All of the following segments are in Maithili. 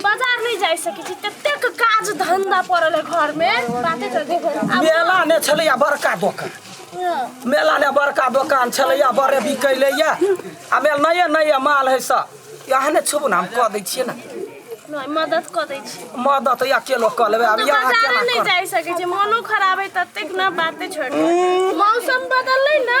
बाजार नहीं जा सके छी ततेक काज धंधा पड़ल है घर में बाते कर दे मेला ने छलैया बड़का दोकान मेला ने बड़का दोकान छलैया बड़े बिकैलैया आ मेल नये नये माल है सब यहाँ ने छुबू ने हम कह दै छियै ने नहीं मदद कर दे छी मदद या के लोग कह लेबै आब यहाँ बाजार केना नहीं कर जा सके छी मनो खराब है ततेक ना बाते छोड़ मौसम बदल है ना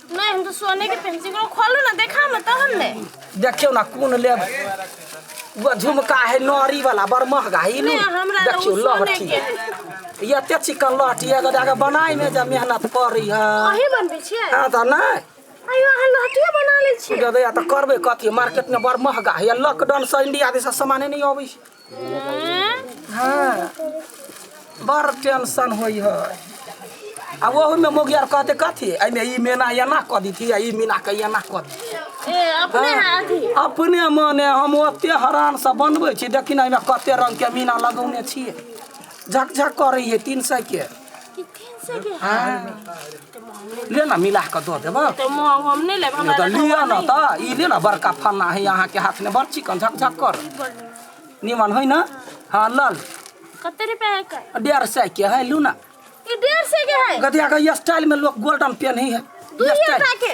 नहीं हम तो सोने के पेंसी को खोलो ना देखा मत हमने देखियो ना कौन ले वो झुमका है नौरी वाला बड़ महंगा ही नहीं हमरा तो देखियो सोने लहठी के है। ये ते चिकन लहठी है अगर जाके बनाई में जब मेहनत करी है अही बनबे छियै हाँ तो नहीं अयो अहाँ लहटिया बना ले छियै दे तो करबे कथी मार्केट में बड़ महंगा है लॉकडाउन से इंडिया दिशा सामान नहीं अबै छै हाँ बड़ टेंशन होई है आ ओहू में मोगी आर कहते कथी एहिमे ई मेना एना कऽ दीथी आ ई मीना के एना कऽ दीथी ए अपने हाथी अपने मने हम ओते हरान से बनबै छी देखी ने एहिमे कते रंग के मीना लगौने छियै झकझक करै है तीन सौ के ले ना मिला के दो देबो तो म- हम नहीं लेब नहीं हमरा तो लियो ना तो ई ले ना बड़का फन्ना है यहाँ के हाथ में बड़ चिकन झक झक कर निमन है ना हाँ लल कते रुपया है का डेढ़ सौ के है लू ना ई डेढ़ सौ के है गदिया के स्टाइल में लोग गोल्डन पेन ही है दू ये स्टाइल। रुपया के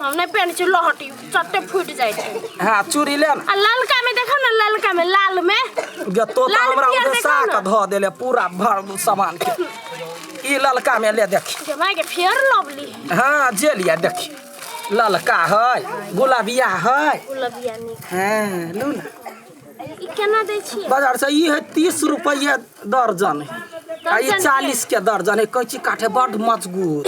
हम नहि पहने छी लहटी चट्टे फूट जाए छै हां चूड़ी ले आ ललका में देखो ना ललका में लाल में गे तो तो हमरा उठसा के ध देले पूरा भर सामान के ई ललका में ले देखी जे माय के फेयर लवली हां जे लिया देखी ललका है गुलाबिया है गुलाबिया नहीं हां लू ना केना दै छियै बाजार से ई है तीस रुपये दर्जन है आ ई दर्जन चालीस के दर्जन है कैची काटे बड मजगूत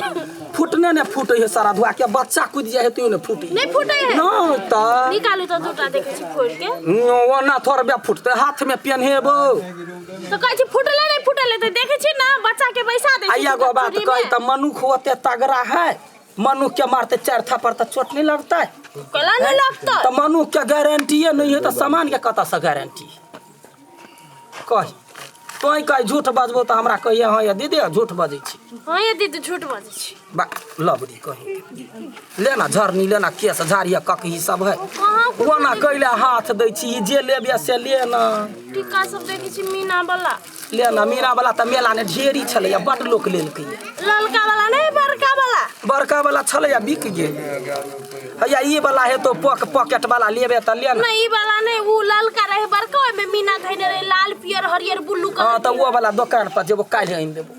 फूटने ने फूटे है सारा धुआ के बच्चा कूद जाए है तो ने फूटे नहीं फूटे है। नहीं तो निकालू तऽ दूटा देखै छी फोड़ के ओना थोड़बे फूटते हाथ में पेन्हेबो तऽ कहै छी फूटले नहि फूटले तऽ देखै छी ने बच्चा के बैसा दै छी आइया गो बात चूड़ी कही में। तऽ मनुख होते तगड़ा है मनुख के मारते चार थप्पड़ त चोट नहीं लगता है कला नहीं लगता तो मनुख के गारंटीए नहीं है तो सामान के कत से गारंटी कही तो कही झूठ बजबो तो हमरा कहिए हाँ ये दीदी झूठ बजै छी हाँ ये दीदी झूठ बजे छी बा लबरी कही लेना झरनी लेना केस झाड़िया ककही सब है कहाँ ओना कैले हाथ दै छी ई जे लेबिया से ले ना टीका सब देखे छी मीना वाला लेना मीना वाला तऽ मेला ने ढेरी छलैया बड लोक लेलकै ललका वाला नहीं बड़का वाला बड़का वाला छलैया बिक गेल हैया ई वाला हेतो पॉक पॉकेट वाला लेबे तऽ लेना नहीं ई वाला नहीं वो ललका रहे बड़का ओमे मीना धैने रहे लाल पियर हरियर ब्लू हाँ कलर तऽ ओ वाला दोकान पर जेबो काल्हि आनि देबो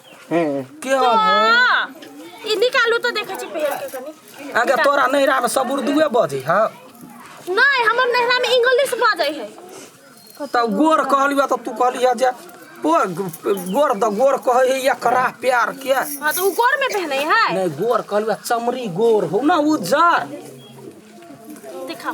के हो हाँ, ई निकालू तो देखे छी पहन के कनी आगे तोरा नैरा में सब उर्दूए बजे हाँ नहीं हमर नहरा में इंग्लिश बाजै है तो गोर कहली बा तो तू कहली है जे ओ गोर द गोर कहे है या करा प्यार के हाँ तो उ गोर में पहने है नहीं गोर कहली बा चमड़ी गोर हो ना उजर दिखाओ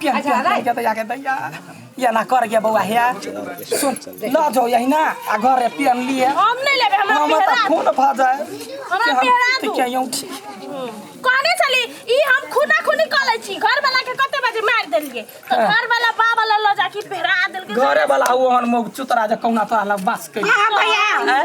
प्यार अच्छा, प्यार अरे। के दया के दया या ना कर गया बउआ है सुन ल जाओ यही ना आ घर रे पियन लिए हम नहीं लेबे हमरा हम पेहरा त खून भ जाए हमरा कि हम पेहरा ठीक दू। है यूं ठीक कहने चली ई हम खुना खुनी कऽ लै छी घर वाला के कते बजे मार देलके तो हाँ। घर वाला बा वाला लऽ जाके पेहरा देलके घरे वाला हुआ हन मौग चुतरा जे कौना तोरा लग बास कई हां भैया हैं?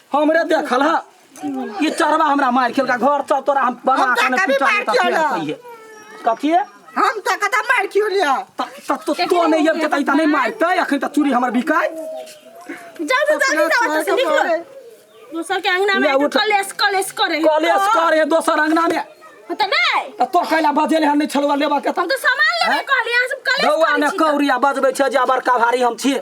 हमरे देखल है ई चरवा हमरा मार खेलका घर चल तोरा हम बना हम के ने कभी पिटा मार देता खेलौं। फेर कहिए कथिए हम त कता मार क्यों लिया त त तो तो नहीं अब जतई त नहीं मारते अखन त चूड़ी हमर बिकाय जा जा जा जा ओतऽ से निकलो दोसर के अंगना में ले आके उठ। कलेश कलेश करे कॉलेज कर हे दोसर अंगना में होता नहीं त तो कैला बजेले हम नहीं छलवा लेबा के हम त तो सामान लेबे हैं? कहली यहाँ सब कलेश रौआ करे ने छी त। कौरिया बजबै छै जे बड़का भारी हम छियै